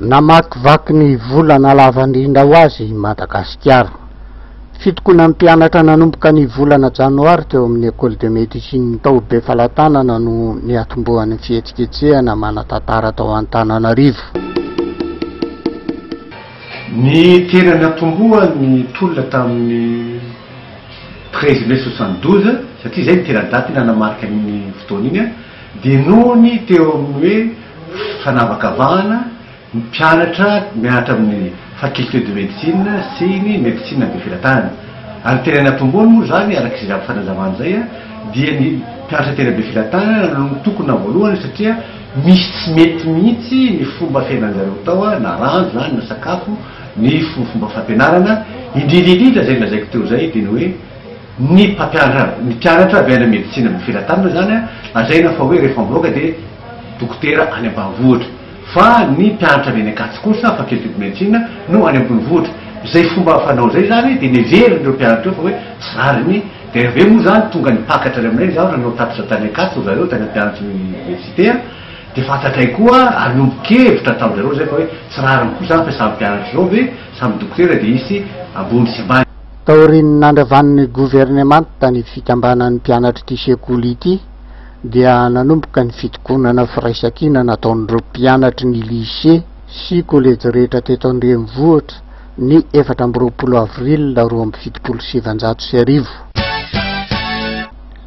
Namakivaky ny volana lava indrindra ho azy i Madagasikara. Fitokonan'ny mpianatra nanomboka ny volana janoary teo amin'ny Ecole de Médecine tao Befalatanana no niatombohan'ny fihetsiketsehana manan-tantara tao Antananarivo. Ny tena niatombohan'ny tolona tamin'ny treize mai soixante douze, satria izay no tena daty nanamarika an'iny fotoana iny, Dia noho ny teo amin'ny hoe fanavakavahana, ny mpianatra mianatra amin'ny Faculté de Médecine sy ny Médecine be Filatana. Ary tena nampiboany moa izany, araka izay azo fanazavana izay, dia ny mpianatra tena be filatana no nitokona voalohany satria misy tsy mety mihitsy ny fomba fiainan'ny zareo tao, na rano izany, na sakafo, ny fomba fampianarana, indrindra indrindra izay nolazaiko teo izay dia ny hoe, Ny mpampianatra mpianatra avy any amin'ny medisina amin'ny felatanana izany an, lazaina fa hoe rehefa mivoaka dia dokotera any ambanivohitra. Fa ny mpianatra avy any Ankatso kosa, faculté de médecine, no any ambonivohitra. Izay fomba fanao izay izany dia neverin'ireo mpianatra ireo fa hoe tsy rariny. Dia avy eo moa izany tonga nipakatra any aminay izaho nanao tatitra tany Ankatso ry zareo, tany amin'ny mpianatry ny université an, dia fantatray koa ary niombon-kevitra tamin-dry zareo izay fa hoe tsy rariny koa izany fa samy mpianatra izao ve, samy dokotera dia hisy ambony sy ambany. Taorian'ny nandravan'ny governemanta ny fikambanan'ny mpianatr'ity sekoly ity dia nanomboka ny fitokonana firaisankina nataon'ireo mpianatry ny lycée sy kolejy rehetra teto an-drenivohitra ny efatra amby roapolo avril roa amby fitopolo sy sivinjato sy arivo.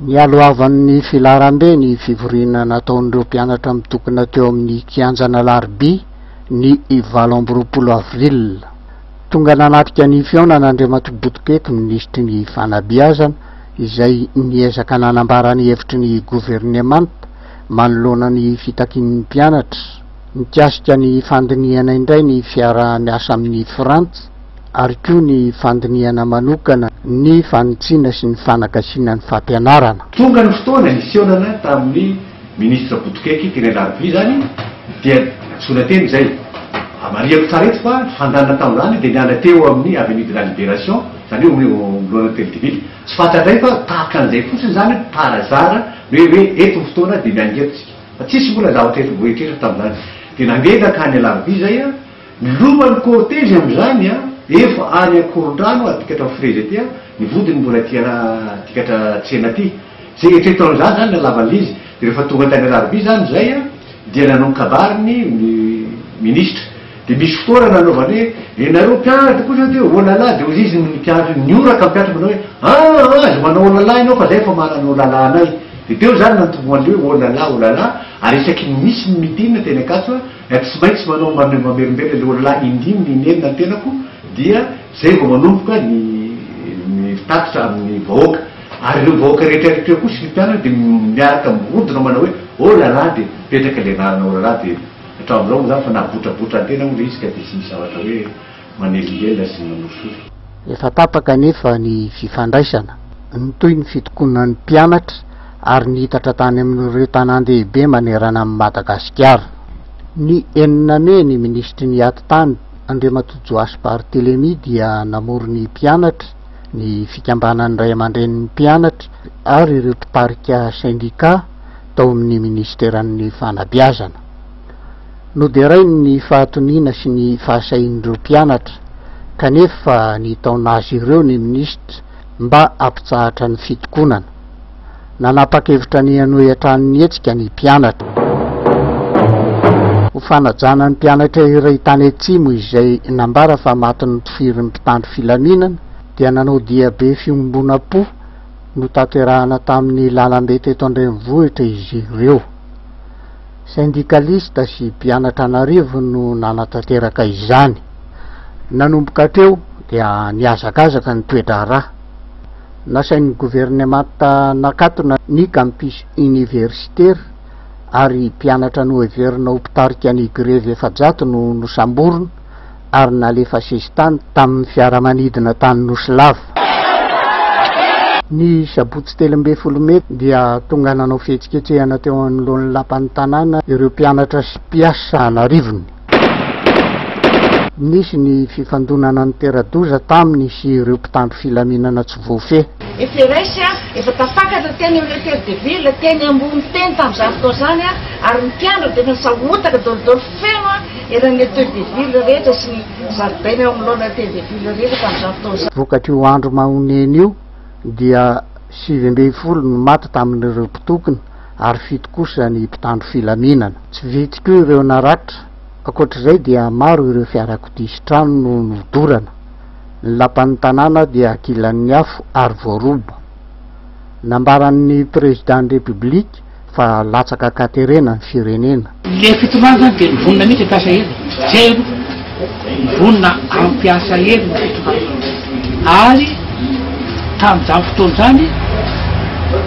Nialohavan'ny filaharambe ny fivoriana nataon'ireo mpianatra mitokona teo amin'ny kianjan'Alarobia ny valo amby roapolo avril. Tonga nanatrika ny fihaonana Andriamatoa Botopety ny Minisitry ny Fanabeazana izay niezaka nanambara ny hevitry ny Governemanta manoloana ny fitakian'ny mpianatra mikasika ny fandinihana indray ny fiaraha-miasa amin'i Frantsa ary koa ny fandinihana manokana ny fanitsiana sy ny fanagasiana ny fampianarana. Tonga ny fotoana hiseonana tamin'ny Ministra Botokeke teny Alarobia izany dia antsoina teny izay. Marihako tsara eto fa ny fandehanana tamin'izany dia niala teo amin'ny Avenue de la Liberation, izany hoe eo anoloana Hotely de Ville. Tsy fantatra indray fa tahaka an'izay fotsiny izany par hasard ny hoe hoe eto ny fotoana dia miainga eto isika. Fa tsisy mbola zavatra efa voaeritreritra tamin'izany. Dia nandeha nankany Alarobia izay. Loma ny cortège amin'izany an! Efa any Ankorondrano aho adikatra ny frezy aty an! Ny vodiny mbola aty an adikatra tsena aty! Izay eritreritro an'izany izany ny halavan'ilay izy! Dia rehefa tonga tany Alarobia izany izay an! Dia nanao ny kabary ny minisitra! Dia misy fotoana nanaovany hoe, Ry nareo mpianatra kosa dia oh la la! Dia hoy izy ny mpianatra hoe, nihoraka ny mpianatra manao hoe, an! an! aza manao oh la la ianao fa izay efa mahalana oh la la anay! Dia teo izany nantombohan'ilay hoe oh la la! oh la la! Ary isaky ny misy ny meeting teny Ankatso an! Ry tsy maintsy manao mamelombelona ilay olona indimy ny neny na ny tenako dia izay vao manomboka ny mitatitra amin'ny vahoaka. Ary ireo vahoaka rehetra ireo koa sy ny mpianany dia miaraka mirodona manao hoe oh là là dia mipetraka ilay anarana oh là là dia hatramin'izao moa izany fa nahabotrabotra ny tena moa ilay izy ka dia tsy misy zavatra hoe manelingelina sy manosory. Efa tapaka anefa ny fifandraisana, nitohy ny fitokonan'ny mpianatra ary niitatra tany amin'ireo tanàn-dehibe manerana an'i Madagasikara. Ny enina mey, ny minisitry ny Atitany, Andriamatoa Joash Barthelemy dia namory ny mpianatra, ny fikambanan'ny ray aman-drenin'ny mpianatra ary ireo mpitarika sendikà tao amin'ny minisiteran'ny Fanabeazana. Noderainy ny fahatoniana sy ny fahasahian'ireo mpianatra kanefa nitaona azy ireo ny minisitra mba hampitsahatra ny fitokonana. Nanapa-kevitra ny hanohy hatrany ny hetsika ny mpianatra. Ho fanajana ny mpianatra iray tany Atsimo izay nambara fa maty notifirin'ny mpitandro filaminana dia nanao diabe fiombonam-po notanterahana tamin'ny lalambe teto an-drenivohitra izy ireo. Sendikalista sy mpianatra an'arivony no nanatanteraka izany. Nanomboka hatreo dia nihazakazaka ny toe-draharaha. Nasain'ny governemanta nakatona ny campus oniversitera ary mpianatra noheverina ho mpitarika ny grevy efajato no nosamborina. ary nalefa sesitany tamin'ny fiaramanidina tany Nosy Lava. Ny sabotsy telo ambin'ny folo mey dia tonga nanao fihetsiketsehana teo anoloan'ny lapan'ny tanàna ireo mpianatra sy mpiasa an'arivony. Nisy ny fifandonana nitera-doza taminy sy ireo mpitandro filaminana tsy voafehy. FRS, Efa tafakatra teny amin'ny Hôtel de Ville teny ambony teny tamin'izany fotoana izany ary ny mpianatra dia efa nisahotaka dôlidôly feno Eran'ny Hotel de Ville rehetra sy ny zaridaina eo anoloan'ny Hotel de Ville rehetra tamin'izany fotoana izany. Vokatr'io andro mahonena io dia sivy ambin'ny folo no maty tamin'ireo mpitokona ary fito kosa ny mpitandro filaminana. Tsy vitsy koa ireo naratra. Ankoatr'izay dia maro ireo fiarakodia sy trano no nodorana. Ny lapan'ny tanàna dia ankilan'ny afo ary voaroba. Nambaran'ny Président ny République. fa latsaka katerena ny firenena. Ilay fitondrana zany dia vonona mihitsy hampiasa hery zero, vonona hampiasa hery ny fitondrana ary tamin'izany fotoana izany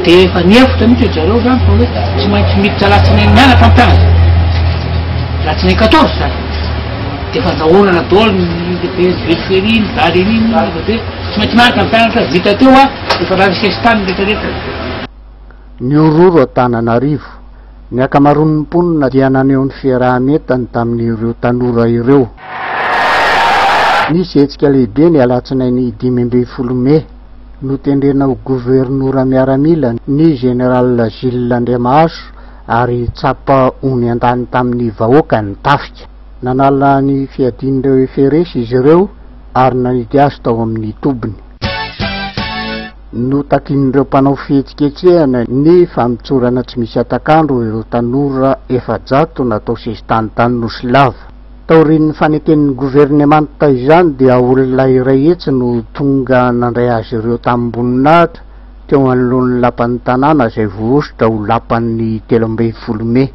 dia efa nihevitra mihitsy ry zareo zany fa hoe tsy maintsy miditra alatsinainy mianaka ny mpianatra, alatsinainy quatorze zany dia efa andrahonana daholo ny lehibe ny velo feri, ny dada iny iny, tsy maintsy mianaka ny mpianatra, vita teo an, efa lany sesitany ny rehetra rehetra. Nihorohoro Antananarivo. Ny ankamaroan'ny mponina dia naneho ny fiaraha-mientany tamin'ireo tanora ireo. Nisy hetsika lehibe ny alatsinainy dimy ambin'ny folo mey, notendrena ho governora miaramila ny Général Gilles Andriamahazo ary tsapa ho niandany tamin'ny vahoaka ny tafika. Nanala ny fiadian'ireo FRS izy ireo ary nanidy azy tao amin'ny tobiny. Notakin'ireo mpanao fihetsiketsehana ny famotsorana tsy misy hatak'andro ireo tanora efajato natao sesitany tany Nosy Lava. Taorian'ny faneken'ny governemanta izany dia olona iray hetsy no tonga nandray azy ireo tamim-boninahitra teo anoloan'ny lapan'ny tanàna izay voahosotra ho lapan'ny telo ambin'ny folo mey.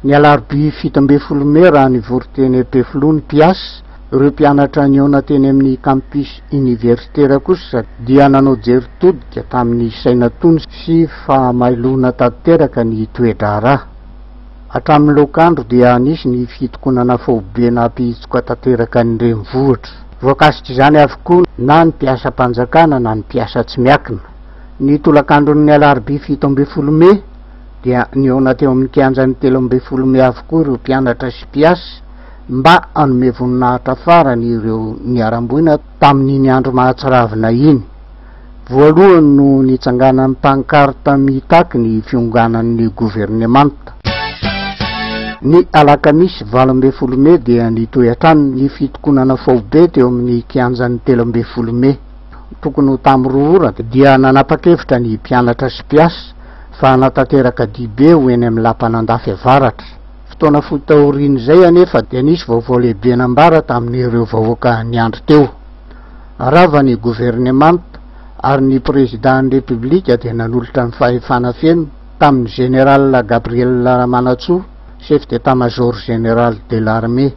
Ny alarobia fito ambin'ny folo mey raha nivory teny Ampefiloha ny mpiasa, Ireo mpianatra nihaona teny amin'ny campus iniversitera kosa dia nanao jery todika tamin'ny saina tony sy fahamailoana tanteraka ny toe-draharaha. Hatramin'ny lok'andro dia nisy ny fitokonana faobe nampihitsoka tanteraka ny renivohitra. Voakasik'izany avokoa na ny mpiasam-panjakana na ny mpiasa tsy miakina. Ny tolakandron'ny alarobia fito ambin'ny folo mey dia nihaona teo amin'ny kianjan'ny telo ambin'ny folo mey avokoa ireo mpianatra sy mpiasa, mba hanome voninahitra farany ireo niharam-boina tamin'iny andro mahatsiravina iny. Voalohany no nitsanganan'ny pankarta mitaky ny fionganan'ny governemanta. Ny alakamisy valo ambin'ny folo mey dia nitohy hatrany ny fitokonana faobe teo amin'ny kianjan'ny telo ambin'ny folo mey. Tokony ho tamin'ny roa ora dia nanapa-kevitra ny mpianatra sy mpiasa fa hanatanteraka dibe ho eny amin'ny lapan'Andafy Avaratra. Fotoana fohy taorian'izay anefa dia nisy vaovao lehibe nambara tamin'ireo vahoaka niandry teo. Rava ny governemanta ary ny Prezidan'ny Repoblika dia nanolotra ny fahefana feno tamin'ny Général Gabriel Ramanantsoa, Chef d'Etat-Major Général de l'Armée.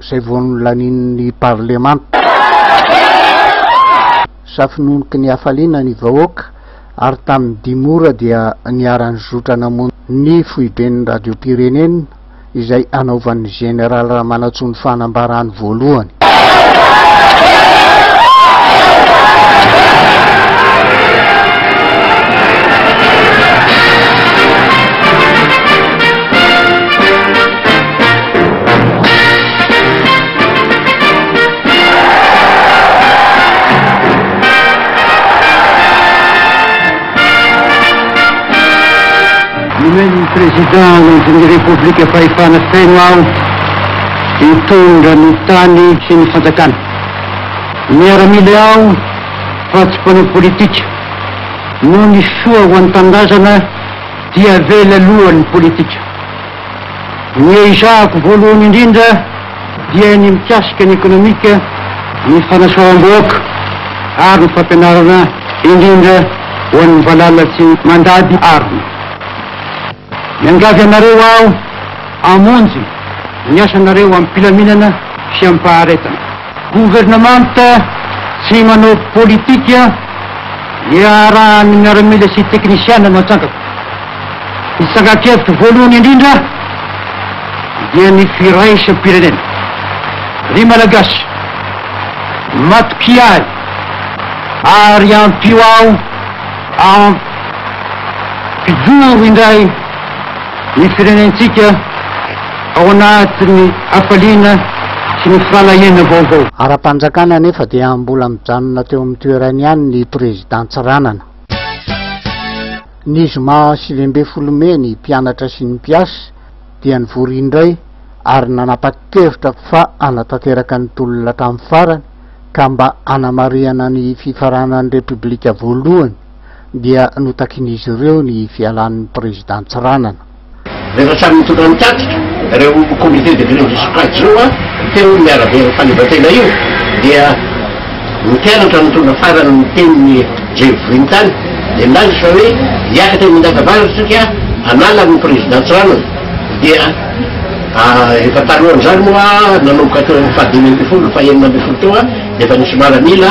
izay vao nolanian'ny parlemanta. Safononoky ny hafaliana ny vahoaka ary tamin'ny dimy ora dia niara-nizotra namonjy ny foiben'ny radiom-pirenena izay anaovan'ny Jeneraly Ramanantsoa ny fanambarany voalohany. Nomen'ny Prezidandy ny Repoblika fahefana feno aho hitondra ny tany sy ny fanjakana. Miaramila aho fa tsy mpanao politika. Noho ny soa ho an'ny tanindrazana dia avela aloha ny politika. Ny ezahako voalohany indrindra dia ny mikasika ny ekonomika, ny fanasoavam-bahoaka ary ny fampianarana indrindra ho an'ny valala sy ny mandady arina. Miangavy anareo aho hamonjy ny asanareo amim-pilaminana sy amim-paharetana. Governemanta tsy manao politika iarahan'ny miaramila sy teknisiana no atsangako. Ny tsangan-kevitro voalohany indrindra dia ny firaisam-pirenena. Ry Malagasy, matokia ahy ary ampio aho hampijoro indray ny firenentsika, Ao anatin'ny hafaliana sy ny fahalahiana vaovao. Ara-panjakana anefa dia mbola mijanona teo amin'ny toerany ihany ny Prezidà Tsiranana. Ny zoma sivy ambin'ny folo mey ny mpianatra sy ny mpiasa dia nivory indray ary nanapa-kevitra fa hanatanteraka ny tolona hatramin'ny farany ka mba hanamarihana ny fifaranan'ny Repoblika voalohany dia notakin'izy ireo ny fialan'ny Prezidà Tsiranana. Rehefa samy nitondra ny tatitra ireo Comité de Grevy sy Pajua teo ny arabe ny fahaleovantena io dia ny mpianatra nitondra farany ny tenin'i Jejo Vohintany dia nilaza fa hoe hiakatra eny Indagavaratra isika hanala ny Président Tsiranana dia efa talohan'izany moa nanomboka teo amin'ny fahadimy ambin'ny folo fahenina ambin'ny folo teo dia efa nisy miaramila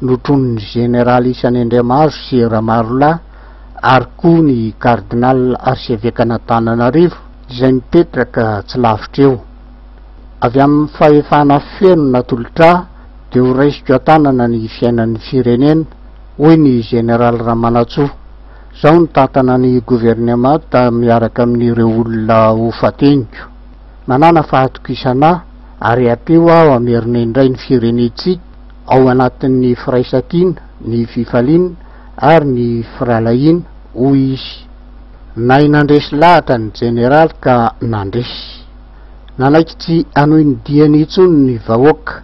notronin'ny Jeneraly Isany Andriamahazo sy Ramarolahy ary koa ny Kardinal Arsevekan'Antananarivo izay mipetraka tsy lavitra eo. Avy amin'ny fahefana feno natolotrà dia ho raisiko an-tanana ny fiainan'ny firenena, hoy ny Jeneraly Ramanantsoa. Izao no tantana ny Governemanta miaraka amin'ireo olona ho fateniko. Manàna fahatokisana aho ary hateho aho hamerina indray ny firenentsika, ao anatin'ny firaisan-kina, ny fifaliana ary ny firahalahiana, hoy izy. Nahay nandresy lahatra ny Jeneraly ka nandresy. Nanaiky tsy hanohy ny diany intsony ny vahoaka.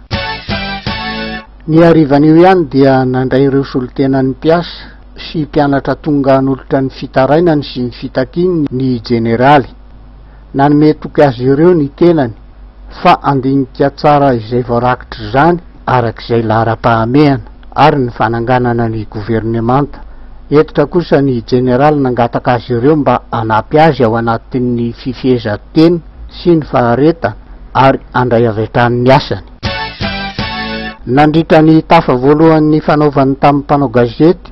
Ny harivan'io ihany dia nandray ireo solontenan'ny mpiasa sy mpianatra tonga hanolotra ny fitarainany sy ny fitakiany ny Jeneraly. Nanome toky azy ireo ny tenany fa handinika tsara izay voarakitr'izany araka izay laharam-pahamehana ary ny fananganana ny governemanta. Hentitra kosa ny jeneraly nangataka azy ireo mba hanampy azy ao anatin'ny fifehezan-tena sy ny faharetana ary handray avy hatrany ny asany. Nandritra ny tafa voalohany nifanaovany tamin'ny mpanao gazety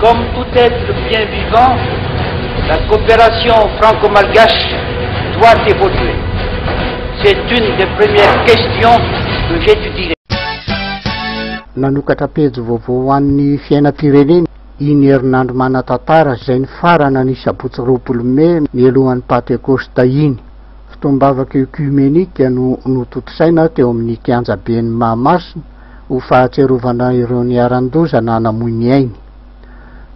Comme tout être bien vivant, la coopération franco-malgache doit évoluer. C'est une des premières questions que j'étudierai. Nanokatra pejy vaovao ho an'ny fiainam-pirenena i Nierinandro Manatantara izay nifarana ny sabotsy roapolo mey nialohan'ny Pantekosta iny. Fotoam-bavaka ekiomeniaka no notontosaina teo amin'ny kianjaben'i Mahamasina ho fahatsiarovana ireo niharan-doza na namoy ny ainy.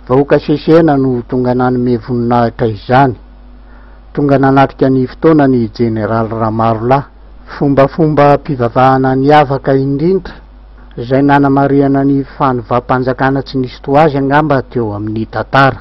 Vahoaka Chechena no tonga nanome voninahitra izany. Tonga nanatrika ny fotoana ny Jeneraly Ramarolahy. Fombafombam-pivavahana niavaka indrindra izay nanamarihana ny fanovam-panjakana tsy nisy toa azy angamba teo amin'ny tantara.